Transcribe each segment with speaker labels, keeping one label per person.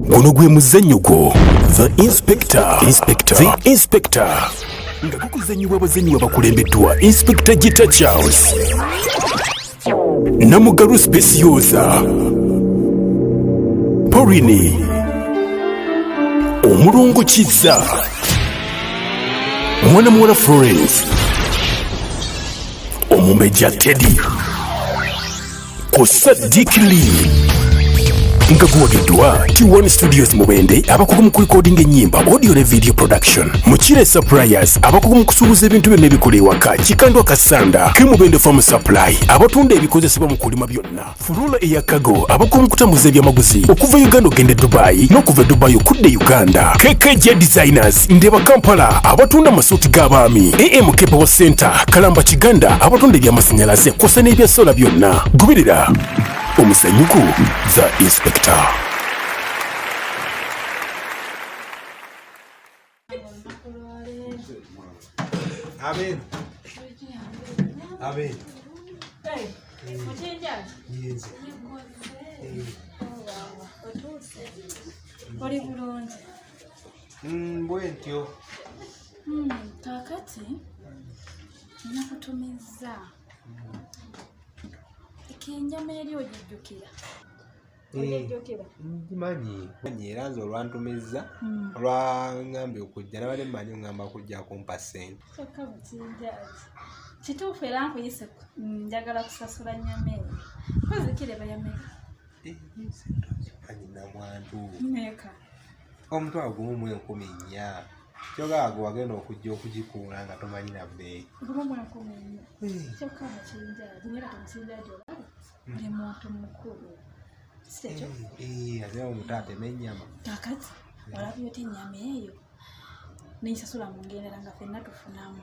Speaker 1: guno gwe muzannyo gwo the inspector inspector the inspector nga gukuzannyibwa abazannyi abakulembeddwa inspector gita charles namugalu specioza porini omulungu kizza mwana muwala florence omumbejja teddy ku Sadiq Lee nga guwagiddwa T1 Studios Mubende abakugu mu kulikodinga ennyimba audio ne video production Mukire Suppliers abakugu mu kusuubuza ebintu byonna ebikola ewaka Kikandwa Kasanda ke Mubende Farm Supply abatunda ebikozesebwa mu kulima byonna Furula eya Cargo abakugu mu kutambuza ebyamaguzi okuva Uganda okugenda e Dubai n'okuva e Dubai okudda e Uganda KKJ Designers Markets, Ndeba Kampala abatunda amasuuti g'abaami, AM Kepewo Center, Kalamba Kiganda abatunda eby'amasannyalaze kwosa n'ebya sola byonna. Goberera omusanyuku The Inspector. Amen. Amen.
Speaker 2: Hey, yes.
Speaker 3: Hey. Oh, wow. What do you say? What do you want? Mm, bwentyo
Speaker 2: hmm, kakati
Speaker 3: nakutumizza ekenyama eri ogijjukira
Speaker 2: ngimanyi manyi era nze olwantumizza hmm. olwangambye okujja nabadde mumanyi ngamba kujja kumpa sente
Speaker 3: kituufu era nkuyise mm, njagala kusasula nyama eyo kozikire bayameka eh,
Speaker 2: namwantu
Speaker 3: omutwalo
Speaker 2: gumu mu enkumi nnya kyoga ago wagenda okujja okugikuula nga tomanyi na
Speaker 3: bbeeyi ate
Speaker 2: omutaate n'ennyama kakati
Speaker 3: olabye oti ennyama eyo nensasula mu ngendera nga fenna tufunamu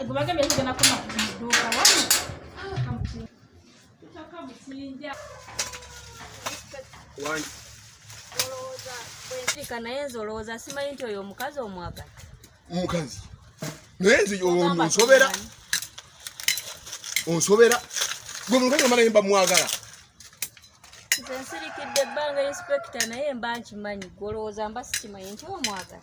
Speaker 3: Ebubage mbese gana kuma
Speaker 4: duka wani. Tutaka musinja. Wani. Olowooza bwenzika naye nze olowooza simanyi nti oyo omukazi omwagala. Omukazi.
Speaker 5: Naye nze onsobera. Onsobera. Gwe mukazi omala yemba mwagala.
Speaker 4: Nze nsirikidde ebbanga inspekita naye mba nkimanyi gwe olowooza mba sikimanyi nti omwagala.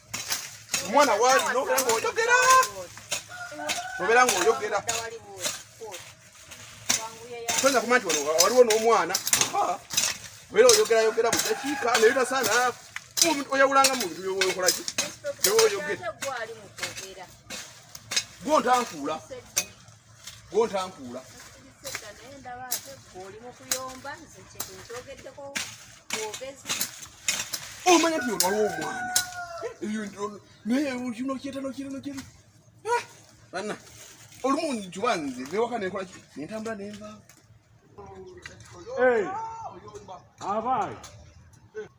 Speaker 5: omwana waali nobera ngaoyogera nobera ngaoyogera toyinza kuma nti waliwo n'omwana obera oyogerayogera budakiika naye tasaana oyawulanga mu bintu byokolaki gwontaafuula gwontankuula omanya ti olwaliwo omwana naye kino kyetano kirano kiri ah! banna olumu njuba nze bewaka nenkola nentambula nenvaawo
Speaker 6: abaayi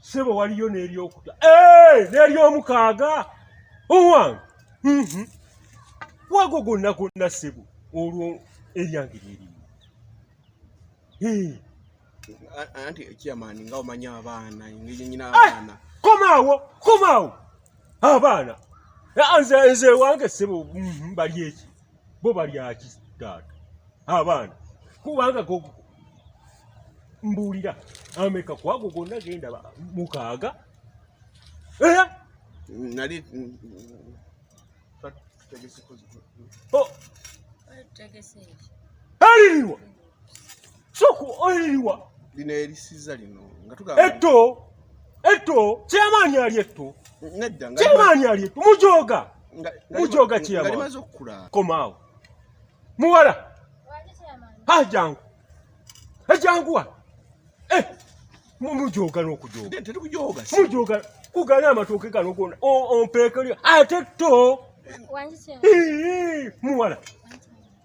Speaker 6: sebo waliyo n'eryokuta eh, n'eryomukaaga owange mhm. wago gonna gonna sebo olwo eryange lyerimu anti
Speaker 5: chairman nga omanya abaana engeri nyina eh, abaana komaawo komaawo
Speaker 6: abaana nze nze wange sebo mhm, bali eki bo balyaki taata abaana kubanga mbuulira ameka kwago gonna genda mukaaga eh?
Speaker 5: nali
Speaker 6: aliriwa soku oyiriwa lino erisiza
Speaker 5: lino nga tugamba etto etto
Speaker 6: kyamaanyi ali etto nedda nga kyamaanyi
Speaker 5: ali etto
Speaker 6: mujoga mujoga kyamaanyi nga limaze okukula
Speaker 5: komaawo
Speaker 6: muwala ha jangu ejangu wa eh mujoga n'okujoga tetukujoga mujoga kugana amatooke gano gona ompeekerya ate tto muwala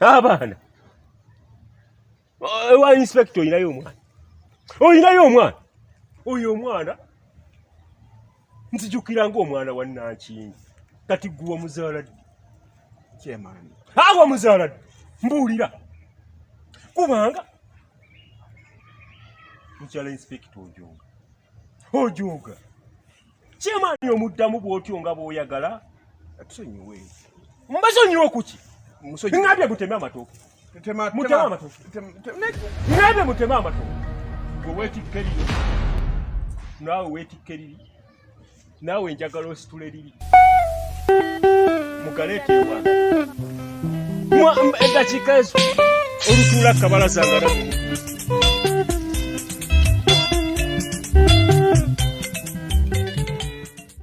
Speaker 6: abaana ewa eh, inspector olinayo omwana olinayo omwana oyo omwana nzijukira ngaomwana wa nankingi kati guwa muzaala ddi kyemaani
Speaker 5: awa muzaala
Speaker 6: ddi mbuulira kubanga mukyala inspector ojonga ojooga kyemaani omuddamu bwotyo nga bwoyagala atusonyiwe
Speaker 5: mbasonyiwe
Speaker 6: kuki ngabye muteme amatooke muteme amatooke ngabye muteme amatooke gwe wetikkerire naawe wetikkerire naawe njagala ositule liri mugaleeteewa eddakiika ezo olutuula kabalaza nga nagumu